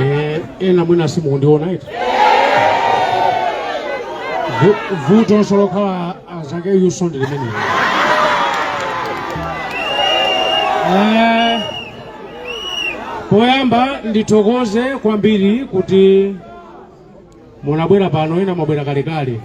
Eh, ena mwina simukundiona eti Vu- vutonso lokhala azake yuso ndi limeneli Eh, poyamba ndithokoze kwambiri kuti munabwera pano ena mwabwera kalekale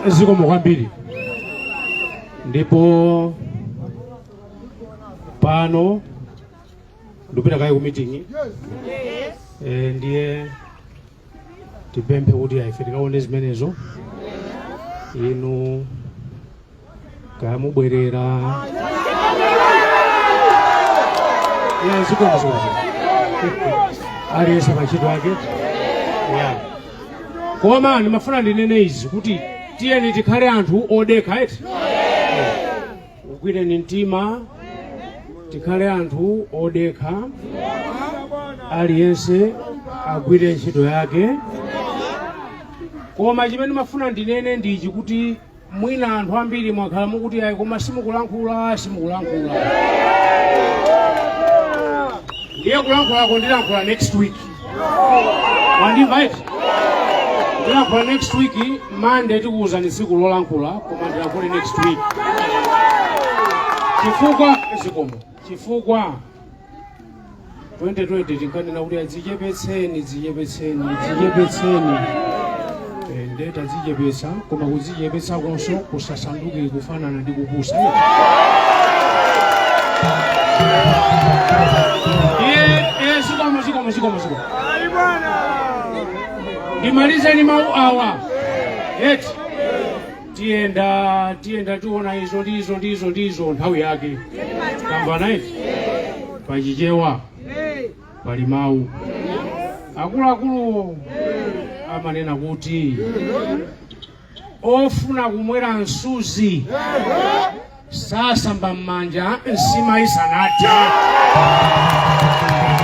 zikomo kwambiri ndipo pano ndipita kaye ku meeting eh, ndiye tipemphe kuti ife tikaone zimenezo inu kaya mubwerera Yeah, zikomo zikomo aliyense pa ntchito yake Yeah. koma ndimafuna ndinene izi kuti tiyeni tikhale anthu odekha eti ugwireni mtima tikhale anthu odekha aliyense agwire ntchito yake koma chimene ndimafuna ndinene ndi ichi kuti mwina anthu ambiri mwakhala mukuti ayi koma simukulankhula simukulankhula ndiye kulankhulako ndilankhula next week mwandimva eti ndilankhula next week Monday tikuwuzani tsiku lolankhula koma ndilankhule next week chifukwa zikomo chifukwa 2020 tinkanena kuti adzichepetseni dzichepetseni dzichepetseni Eh, nde tadzichepetsa koma kudzichepetsakonso kusasanduke kufanana ndi kupusa Eh, eh, zikomo zikomo zikomo zikomo ndimalize ndi mawu awa eti tiyenda tiyenda tiona izo ndi izo ndi izo ndi izo nthawi yake tamvana eti pachichewa pali mawu akuluakuluwo amanena kuti ofuna kumwera msuzi sasamba m'manja nsima isanathe